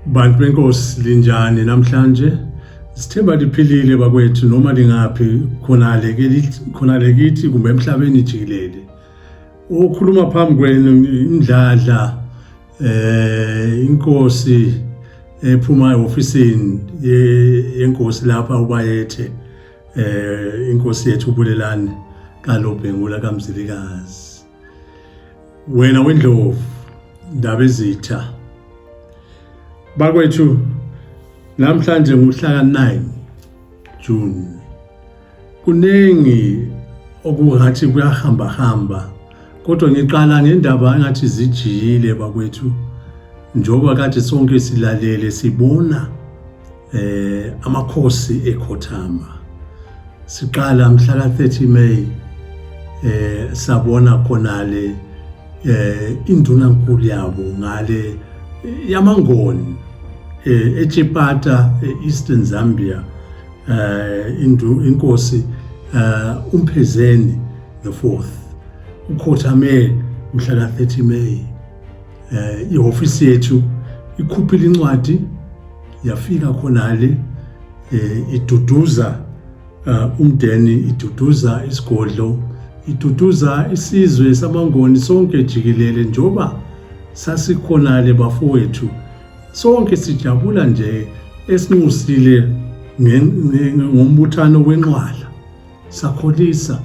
bantu benkosi linjani namhlanje sithemba liphilile bakwethu noma lingaphi khonale khonale kithi kumbe emhlabeni jikelele okhuluma phambi kwenu indladla eh inkosi ephuma ehofisini yenkosi lapha ubayethe eh inkosi yethu ubulelani kalobhengula kamzilikazi wena wendlovu ndaba ezitha bakwethu namhlanje nguhlaka 9 June kuningi okungathi kuyahamba hamba kodwa ngiqala ngendaba engathi zijiyile bakwethu njengoba kade sonke silalele sibona eh amakhosi ekhothama siqala mhla ka 30 May eh sabona khona le eh induna nkulu yabo ngale yamangoni eh eChipata eEastern Zambia eh indu inkosi eh umphezeni the 4th ukhothame mhla ka 30 May eh ihofisi yethu ikhuphile incwadi yafika khonale eh, iduduza eh, umndeni iduduza isigodlo iduduza isizwe samangoni sonke jikelele njoba sasikhonale bafowethu sonke sijabula nje esinxusile ngombuthano wenqwala sakholisa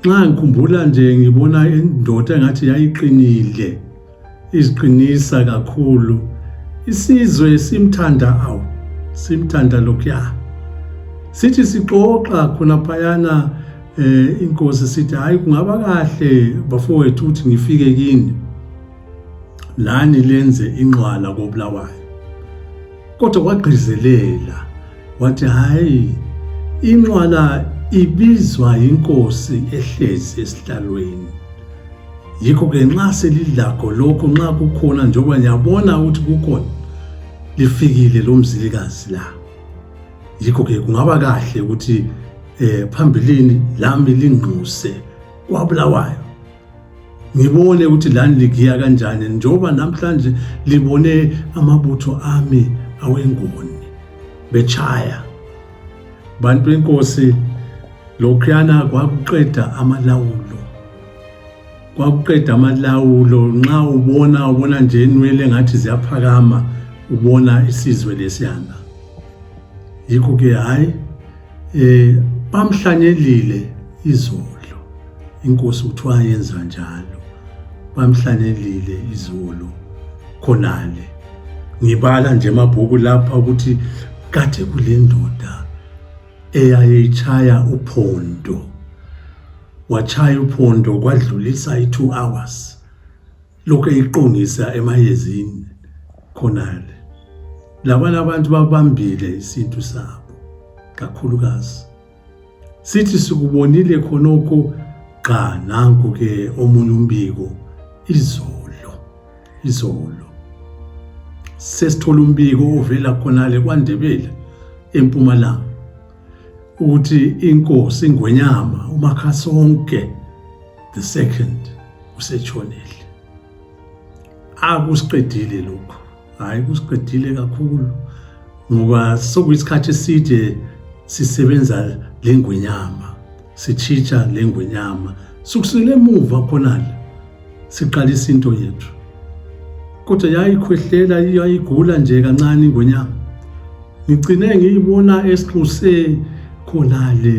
nxa ngikhumbula nje ngibona indoda engathi yayiqinile iziqinisa kakhulu isizwe simthanda awu simthanda lokhuya sithi sixoxa khonaphayana um eh, inkosi sithi hhayi kungaba kahle bafowethu ukuthi ngifike kini lani lenze inqwala kobulawayo Kodwa wagqizelela wathi, hhayi, inqwala ibizwa yinkosi ehlezi esihlalweni. Yikho-ke nxa selilakho lokho, nxa kukhona njengoba niyabona ukuthi kukhona, lifikile lo mzilikazi la. Yikho-ke kungaba kahle ukuthi eh phambilini lami lingquse kwaBulawayo ngibone ukuthi lani ligiya kanjani njengoba namhlanje libone amabutho ami awengoni bechaya bantu inkosi lokhuyana kwakuqeda amalawulo kwakuqeda amalawulo nxa ubona ubona nje inwele ngathi ziyaphakama ubona isizwe lesiyana yikho ke hhayi Eh bamhlanyelile izolo. Inkosi uthiwa yenza njalo. Bamhlanyelile izolo khonale. Ngibala nje amabhuku lapha ukuthi kade kulendoda eyayitshaya uphondo. Watshaya uphondo kwadlulisa i-2 hours. lokhu eyiqongisa emayezini khonale labanye abantu babambile isintu sabo kakhulukazi sithi sikubonile khonokho gqa nanku ke omunye umbiko izolo izolo sesithola umbiko ovela khonale kwandebele empumalanga ukuthi inkosi ingwenyama umakhasonke the second usetshonile akusiqedile lokhu hayi kusiqedile kakhulu ngoba sokuyisikhathi eside sisebenza lengwenyama sitshitsha lengwenyama sukusele emuva khonale siqalisa into yethu kodwa yayikhwehlela yayigula nje kancane ingonyama ngigcine ngiyibona esinxuse khonale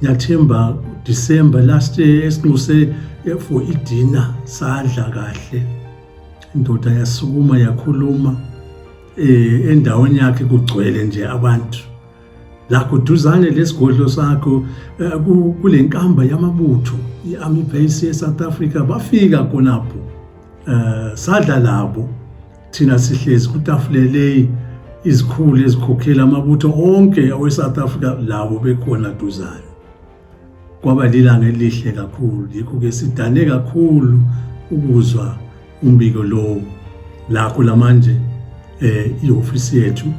ngiyathemba December last year esinxuse for idina sadla kahle indoda yasukuma yakhuluma eh endaweni yakhe kugcwele nje abantu lakuduzane lesigodlo sakho eh, kule nkamba yamabutho i-army base ye-south africa bafika khonapho um sadla labo thina sihlezi kutafuleleyi izikhulu ezikhokhela amabutho onke awe-south africa labo bekhona duzane Kwaba lilanga elihle kakhulu, yikho ke sidane kakhulu ukuzwa umbiko lowo. Lakho lamanje eh ihofisi yethu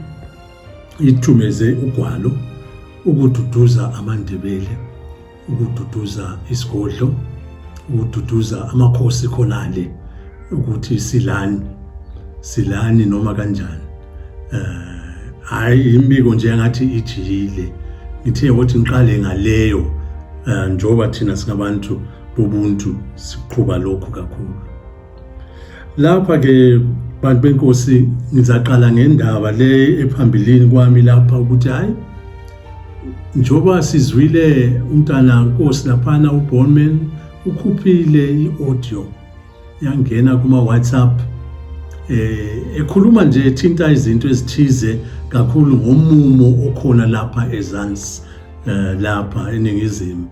ithumeze ugwalo ukududuza amaNdebele, ukududuza isigodlo, ukududuza amakhosi khonale ukuthi silani, silani noma kanjani. hayi uh, imbiko nje engathi ijiyile ngithe ukuthi ngiqale ngaleyo uh, njengoba thina singabantu bobuntu siqhuba lokhu kakhulu lapha ke bantu benkosi ngizaqala ngendaba le ephambilini kwami lapha ukuthi hayi njengoba sizwile umntana nkosi laphana ubonman ukhuphile i-audio yangena kuma-whatsapp eh ekhuluma nje ethinta izinto ezithize kakhulu ngomumo okhona lapha ezansi eh, lapha eningizimu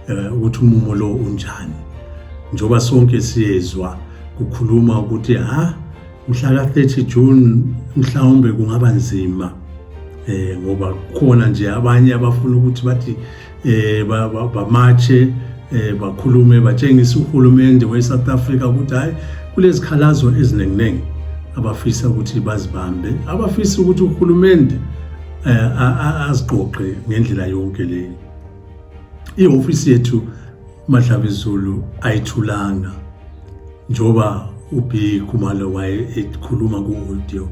eh, ukuthi umumo lo unjani njoba sonke siyezwa kukhuluma ukuthi ha mhla ka-30 June mhlawumbe kungaba nzima eh ngoba khona nje abanye abafuna ukuthi bathi eh bamatshe eh bakhulume batshengisa uhulumende weSouth Africa ukuthi hayi kulezikhalazo ezininginingi abafisa ukuthi bazibambe abafisa ukuthi uhulumende eh, aziqoqe ngendlela yonke leyo ihofisi yethu madlabezulu ayithulanga njoba ubi khumalo waye ekhuluma ku-audio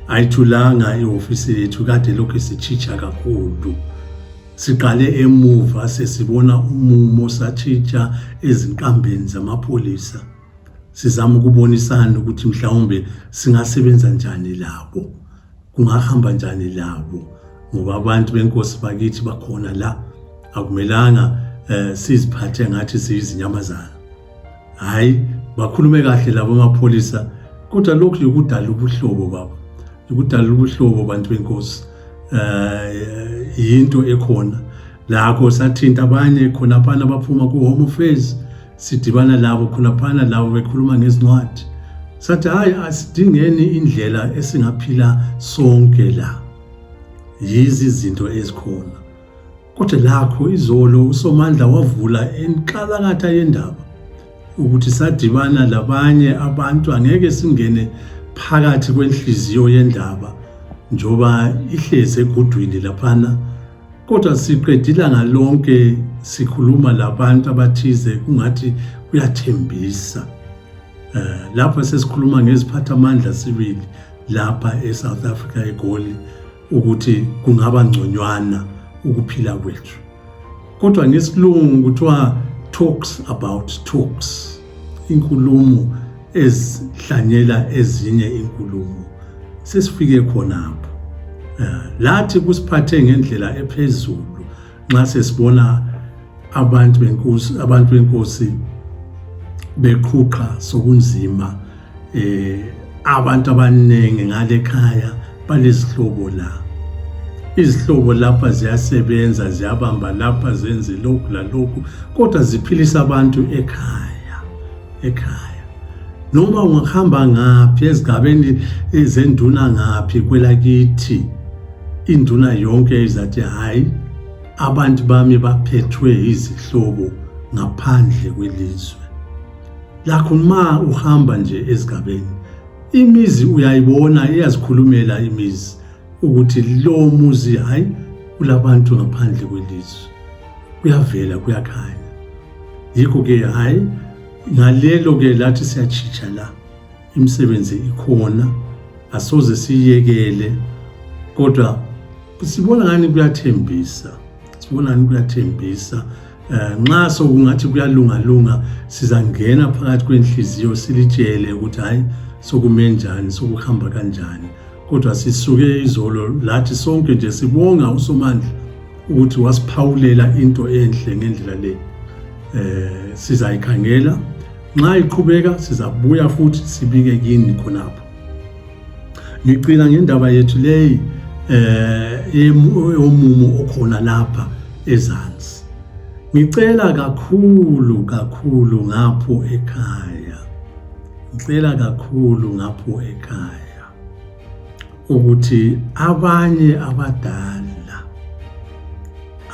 ayithulanga ihofisi yethu kade lokhu sitshitsha kakhulu Siqale emuva sesibona umumo satshintsha ezinkambeni zamapholisa sizama ukubonisana ukuthi mhlawumbe singasebenza njani labo kungahamba njani labo ngoba abantu benkosi bakithi bakhona la akumelanga eh, siziphathe ngathi siyizinyamazana hayi bakhulume kahle labo mapholisa kodwa lokhu yikudala ubuhlobo baba yikudala ubuhlobo bantu benkosi eh yinto ekhona lakho sathinta abanye khona phana baphuma ku home affairs sidibana labo khona phana labo bekhuluma ngezincwadi sathi hayi asidingeni indlela esingaphila sonke la yizi izinto ezikhona Kodwa lakho izolo uSomandla wavula enkalakatha yendaba ukuthi sadibana labanye abantu angeke singene phakathi kwenhliziyo yendaba njoba ihlezi egudwini laphana kodwa siqedila ngalonke sikhuluma labantu abathize kungathi kuyathembisa eh, lapha sesikhuluma ngeziphathamandla sibili lapha eSouth Africa eGoli ukuthi kungaba ngconywana ukuphila kwethu kodwa ngesilungu kuthiwa talks about talks inkulumo ezihlanyela ezinye inkulumo sesifike khonapho eh, lathi kusiphathe ngendlela ephezulu nxa sesibona abantu benkosi abantu benkosi beqhuqha sokunzima eh abantu abaningi ngale khaya balezihlobo la izihlobo lapha ziyasebenza ziyabamba lapha zenze lokhu lalokhu kodwa ziphilisa abantu ekhaya ekhaya noma ungahamba ngaphi ezigabeni zenduna ngaphi kwelakithi induna yonke izathi hayi abantu bami baphethwe izihlobo ngaphandle kwelizwe lakho ma uhamba nje ezigabeni imizi uyayibona iyazikhulumela imizi ukuthi lo muzi hayi kulabantu ngaphandle kwelizwe kuyavela kuyakhanya Yikho-ke hhayi ngalelo-ke lathi siyatshitsha la imisebenzi ikhona asoze siyiyekele kodwa sibona ngani kuyathembisa sibona ngani kuyathembisa Eh, nxa sokungathi kuyalungalunga sizangena phakathi kwenhliziyo silitshele ukuthi hayi sokume njani sokuhamba kanjani kodwa sisuke izolo lathi sonke nje sibonga usomandla ukuthi wasiphawulela into enhle ngendlela le eh sizayikhangela nxa iqhubeka sizabuya futhi sibike kini khonapho ngicina ngendaba yethu leyi eh yomumo okhona lapha ezansi ngicela kakhulu kakhulu ngapho ekhaya ngicela kakhulu ngapho ekhaya ukuthi abanye abadala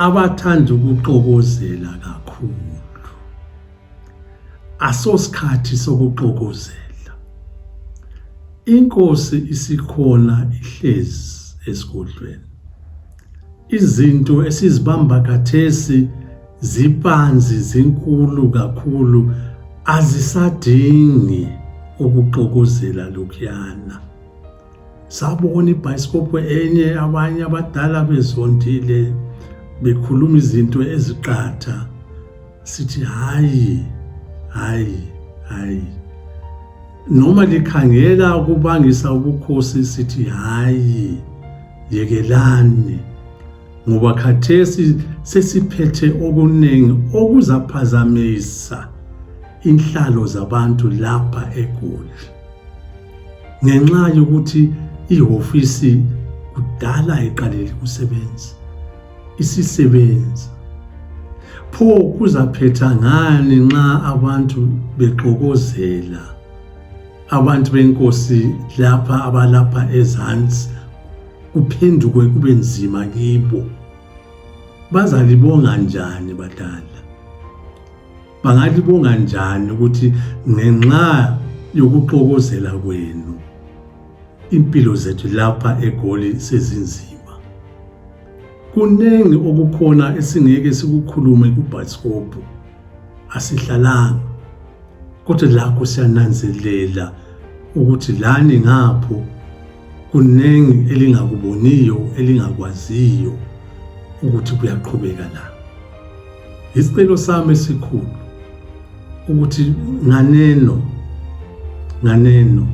abathanda ukuxokozela kakhulu asosikhathi sokuxokozela inkosi isikhona ihlezi esigodlweni izinto esizibamba kathesi zipanzi zinkulu kakhulu azisadingi ukuxokozela lokhuyana sabona ibhayisikophu enye abanye abadala bezondile bekhuluma izinto eziqatha sithi hayi hayi hayi noma likhangela ukubangisa ubukhosi sithi hayi yekelani ngoba khathesi sesiphethe okuningi okuzaphazamisa inhlalo zabantu lapha egoli ngenxa yokuthi ihofisi kudala iqaleli kusebenzi isisebenzi pho kuzaphetha ngani nxa abantu bexokozela abantu benkosi lapha abalapha ezansi kuphenduke kube nzima kibo bazalibonga njani badala Bangalibonga njani ukuthi ngenxa yokuxokozela kwenu impilo zethu lapha eGoli sezinzima. Kuningi okukhona esingeke sikukhulume kubhasikobho. Asihlalanga. Kodwa lakho siyananzelela ukuthi lani ngapho Kuningi elingakuboniyo elingakwaziyo ukuthi kuyaqhubeka la. Isicelo sami esikhulu ukuthi nganeno nganeno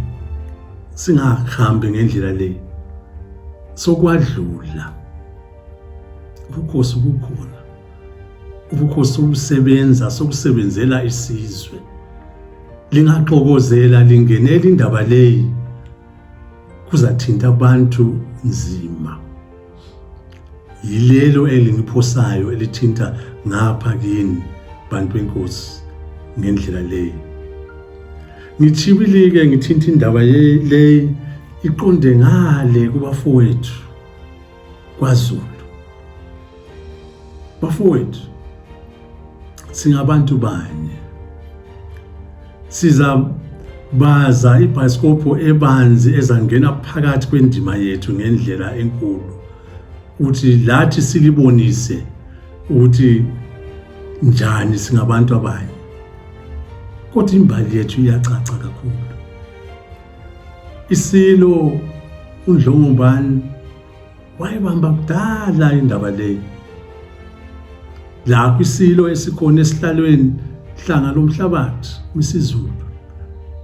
singahambi ngendlela le sokwadlula ubukhosi bukhona ubukhosi obusebenza sokusebenzela isizwe lingaxokozela lingenela indaba leyi kuzathinta abantu nzima. Yilelo elingiphosayo elithinta ngapha kini bantu benkosi ngendlela leyi. Ngithibilike ngithinta indaba leyi iqonde ngale kubafowethu. kwaZulu. Bafowethu singabantu banye. Siza baza ibhayisikopho ebanzi ezangena phakathi kwendima yethu ngendlela enkulu ukuthi lathi silibonise ukuthi njani singabantu abanye kodwa imbali yethu iyacaca kakhulu isilo undlongobani wayibamba kudala indaba leyi lapho isilo esikhona esihlalweni hlanga lomhlabathi misizulu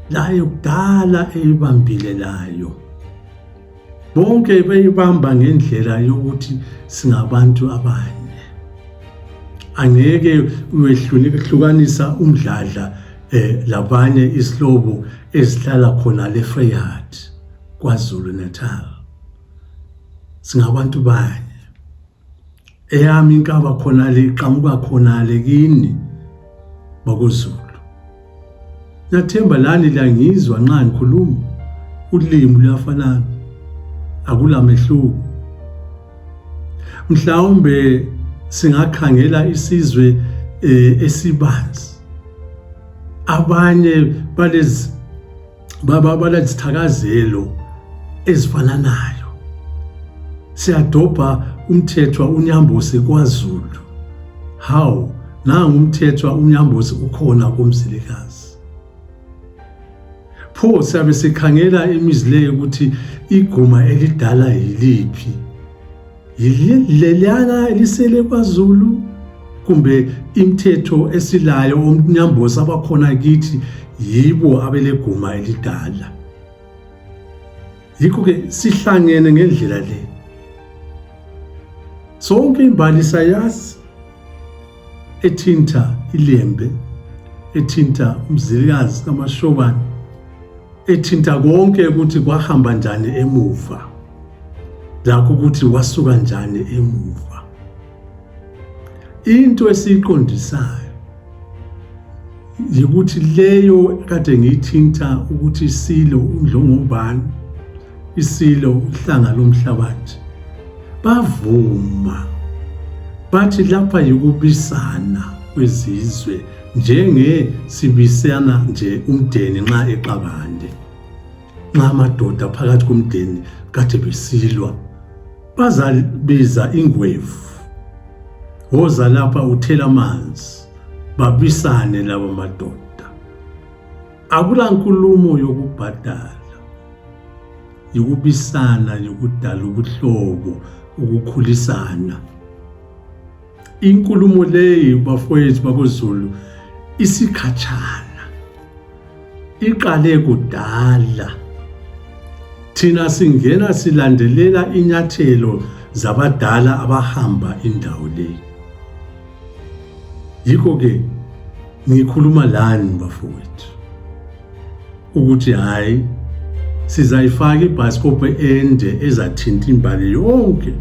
layo kudala eyibambile layo bonke beyibamba ngendlela yokuthi singabantu abanye angeke uyehlukana umdladla eh labanye isilobo ezihlala khona le Freyard kwaZulu Natal singabantu bani eyami inkaba khona le iqhamuka khona le kini bakuZulu Nathemba lani la ngizwa nxa ngikhuluma ulimi luyafanana akulamehluko mhlawumbe singakhangela isizwe eh, esibanzi abanye balezi baba balezithakazelo ezifananayo siyadobha umthethwa unyambosi kwaZulu how nangu umthethwa unyambosi ukhona kumzilikazi pho siyabe sikhangela imizi leyo ukuthi iguma elidala yiliphi yileliyana elisele kwazulu kumbe imithetho esilayo omnyambosi abakhona kithi yibo abeleguma elidala yikho-ke sihlangene ngendlela le sonke imbali sayazi ethinta ilembe ethinta umzilikazi kamashobane ethinta konke ukuthi kwahamba njani emuva lakho ukuthi wasuka njani emuva into esiyiqondisayo yikuthi leyo kade ngiyithinta ukuthi silo undlongobani isilo uhlanga lomhlabathi bavuma bathi lapha yikubisana kwezizwe njenge sibisana nje umdeni nxa exabande nxa amadoda phakathi komdeni kade besilwa bazabiza ingwevu woza lapha uthela amanzi babisane laba madoda Akula nkulumo yokubhadala, yikubisana, yikudala ubuhlobo, ukukhulisana. Inkulumo leyi bafowethu bakoZulu isikhatshana, iqale kudala. Thina singena silandelela inyathelo zabadala abahamba indawo leyi. Yikho-ke Ngikhuluma lani bafowethu ukuthi hhayi sizayifaka ibhayisikobho ende ezathinta imbali yonke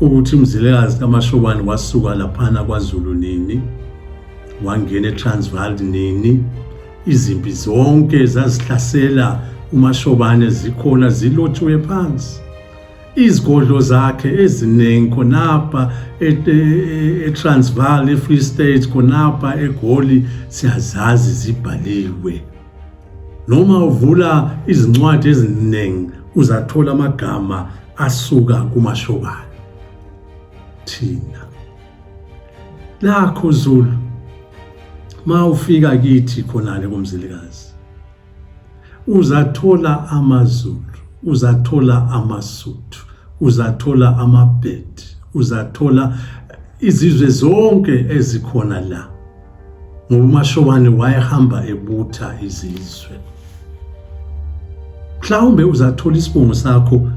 ukuthi umzilekazi kamashobane wasuka laphana kwazulu nini wangena etransval nini izimpi zonke zazihlasela umashobane zikhona zilotshiwe phansi izigodlo zakhe eziningi khonapha eTransvaal eFree State khonapha eGoli siyazazi zibhaliwe noma uvula izincwadi eziningi uzathola amagama asuka kumashokana thina lakho Zulu ma ufika kithi khona le komzilikazi Uzathola amaZulu, uzathola amaSuthu, uzathola amaBhedi, uzathola izizwe zonke ezikhona la. Ngoba uMashobane wayehamba ebutha izizwe. Mhlawumbe uzathola isibongo sakho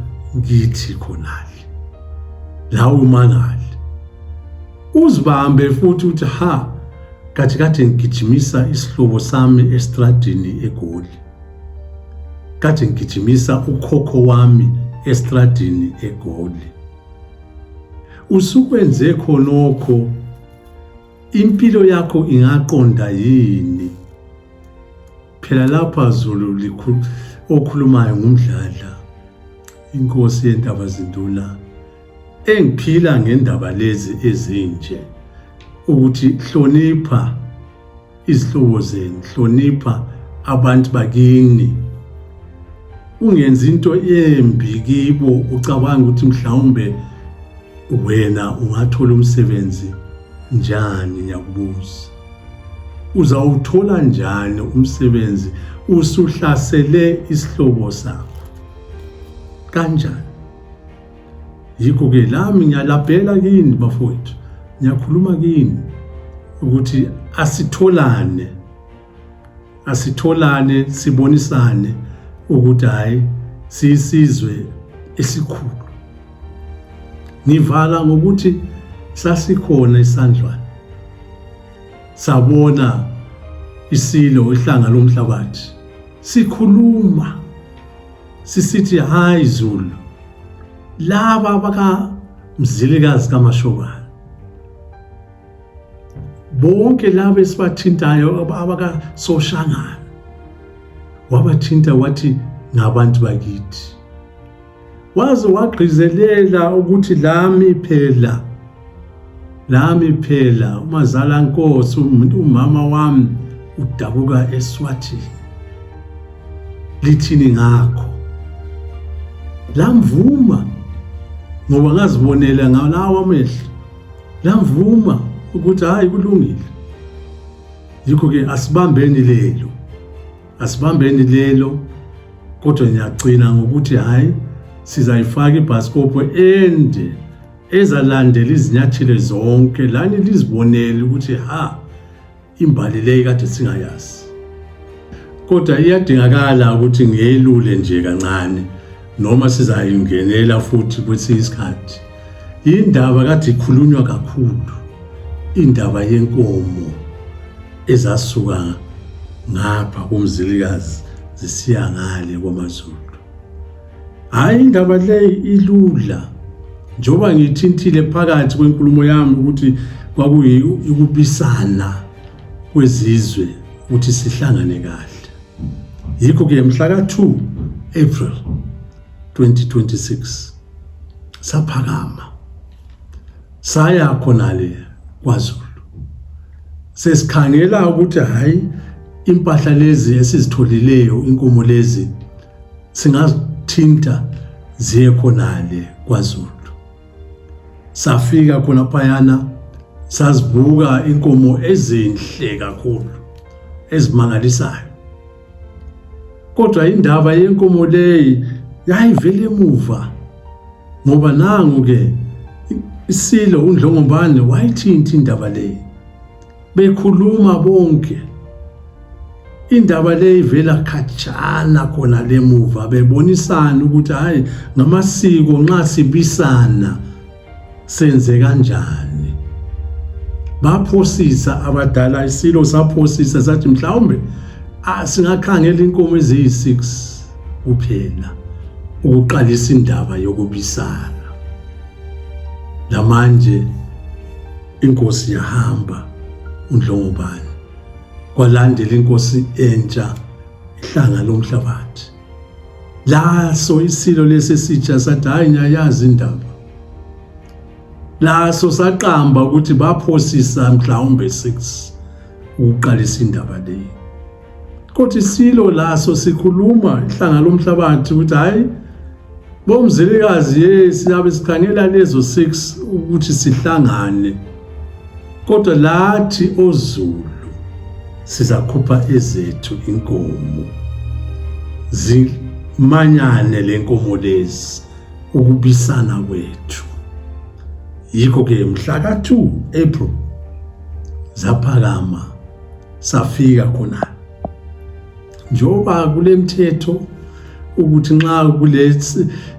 kithi khonale. Lawo mangali. Uzibambe futhi uthi ha kathi kade ngigijimisa isihlobo sami estradini egoli kade ngigijimisa ukhokho wami estradini egoli usukwenze khonokho impilo yakho ingaqonda yini phela lapha zulu okhulumayo ngumdladla inkosi yentaba zinduna Engiphila ngendaba lezi ezinje ukuthi hlonipha izihlobo zenu, hlonipha abantu bakini. Ungenzi into embi kibo ucabanga ukuthi mhlawumbe wena ungathola umsebenzi njani ngiyakubuza. Uzawuthola njani umsebenzi usuhlasele isihlobo sakho? Kanjani? yikho-ke lami ngiyalabhela kini bafowethu ngiyakhuluma kini ukuthi asitholane asitholane sibonisane ukuthi hhayi siyisizwe esikhulu ngivala ngokuthi sasikhona isandlwana sabona isilo ihlanga lomhlabathi sikhuluma sisithi hayi Zulu laba baka mzilikazi kaMashobana bonke laba esibathintayo abaka soshangana wabathinta wathi ngabantu bakithi waze wagqizelela ukuthi lami phela lami phela umazala nkosi umama wami udabuka eswathi lithini ngakho lamvuma ngoba ngazibonela ngalawo amehlo lamvuma ukuthi hayi kulungile yikho ke asibambeni lelo asibambeni lelo kodwa ngiyagcina ngokuthi hayi sizayifaka ibhasikopho ende ezalandela izinyathelo zonke lani lizibonele ukuthi ha imbali leyi kade singayazi kodwa iyadingakala ukuthi ngiyelule nje kancane noma sizayingenela futhi kwesinye isikhathi indaba kade ikhulunywa kakhulu indaba yenkomo ezasuka ngapha kumzilikazi zisiya ngale kwamazulu Hayi indaba le ilula njengoba ngithintile phakathi kwenkulumo yami ukuthi kwakuyikubisana kwezizwe ukuthi sihlangane kahle yikho ke mhla ka-2 April 2026 saphakama saya khona le kwaZulu sesikhangela ukuthi hayi impahla lezi esizitholileyo inkomo lezi Singathinta ziye khonale kwaZulu. Safika khona phayana sazibuka inkomo ezinhle kakhulu ezimangalisayo. Kodwa indaba yenkomo leyi yayivele emuva ngoba nangu ke isilo undlongobane wayithinta indaba leyi bekhuluma bonke indaba le ivela khatshana khona lemuva bebonisana ukuthi hayi ngamasiko nxa sibisana senze kanjani baphosisa abadala isilo saphosisa sathi mhlawumbe singakhangela inkomo eziyi-6 kuphela ukuqalisa indaba yokubisana lamanje Inkosi yahamba uNdlongobani. Kwalandela inkosi entsha ihlanga lomhlabathi. Laso isilo lesi sitsha sathi hayi ngiyayazi indaba. Laso saqamba ukuthi baphosisa mhlawumbe 6 ukuqalisa indaba leyi. kodwa isilo laso sikhuluma ihlanga lomhlabathi ukuthi hhayi bomzilikazi ye siyabe sikhangela lezo six ukuthi sihlangane kodwa lathi ozulu sizakhupha ezethu inkomo zimanyane le nkomo lezi ukubisana kwethu yikho-ke mhla ka-2 april zaphakama safika khona njengoba kulemthetho ukuthi nxa kule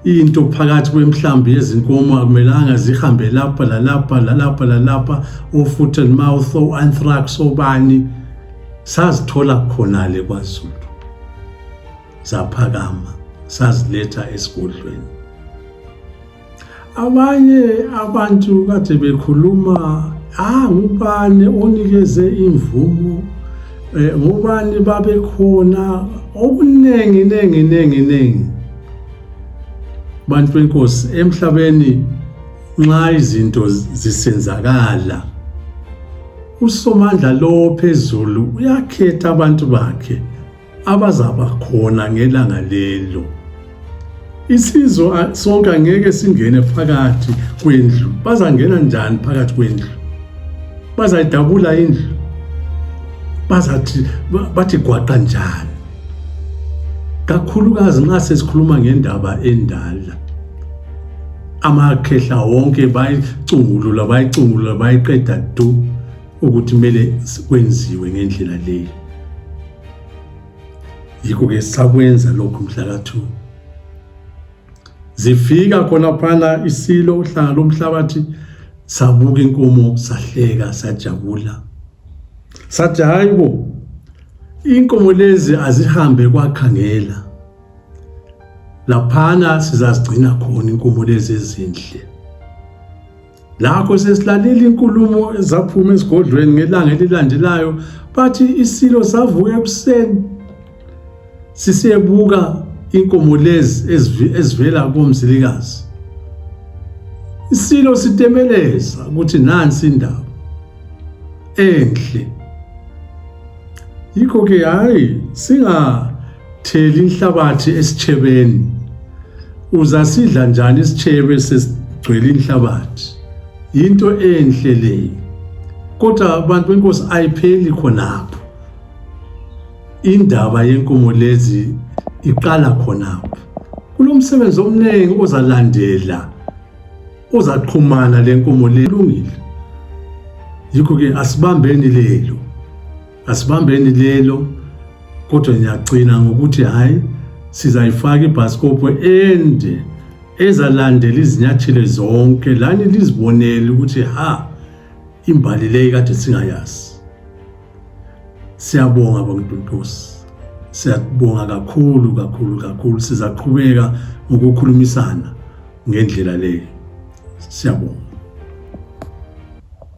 into phakathi kwemhlambi yezinkomo akumelanga zihambe lapha lalapha lalapha lalapha o-foot and mouth o-anthrax obani sazithola khonale kwazulu zaphakama saziletha esigodlweni Abanye abantu kade bekhuluma ah ngubani onikeze imvumo eh, ngubani babekhona okuningi ningi ningi ningi bantu benkosi emhlabeni nxa izinto zisenzakala usomandla lowo phezulu uyakhetha abantu bakhe abazaba khona ngelanga lelo isizwe sonke angeke singene phakathi kwendlu bazangena njani phakathi kwendlu bazayidabula indlu bazathi bathi gwaqa njani kakhulukazi nxa sesikhuluma ngendaba endala amakhehla wonke bayicungulula bayicungulula bayiqeda du ukuthi kumele kwenziwe ngendlela leyi yikho-ke sakwenza lokhu mhlakathu zifika khonaphana isilo uhlanga lomhlabathi sabuka inkomo sahleka sajabula sathi hayi bo inkomo lezi azihambe kwakhangela laphana sizazigcina khona inkomo lezi ezinhle Lakho sesilalile inkulumo ezaphuma esigodlweni ngelanga elilandelayo bathi isilo savuka ekuseni sisebuka inkomo lezi ezivela komzilikazi isilo sitemeleza ukuthi nansi indaba enhle yikho ke hayi singa thela inhlabathi esitshebeni uzasidla njani isitshebe sesigcwele inhlabathi yinto enhle leyo kodwa abantu benkosi ayipheli khonapho indaba yenkomo lezi iqala khonapho kulomsebenzi omningi ozalandela ozaqhumana lenkomo lelungile yikho ke asibambeni lelo asibambeni lelo kodwa ngiyagcina ngokuthi hhayi sizayifaka ibhasikopho ende ezalandela izinyathelo zonke lani lizibonele ukuthi ha imbali leyi kade singayazi siyabonga bamntuntusi siyabonga kakhulu kakhulu kakhulu sizaqhubeka ngokukhulumisana ngendlela leyo siyabonga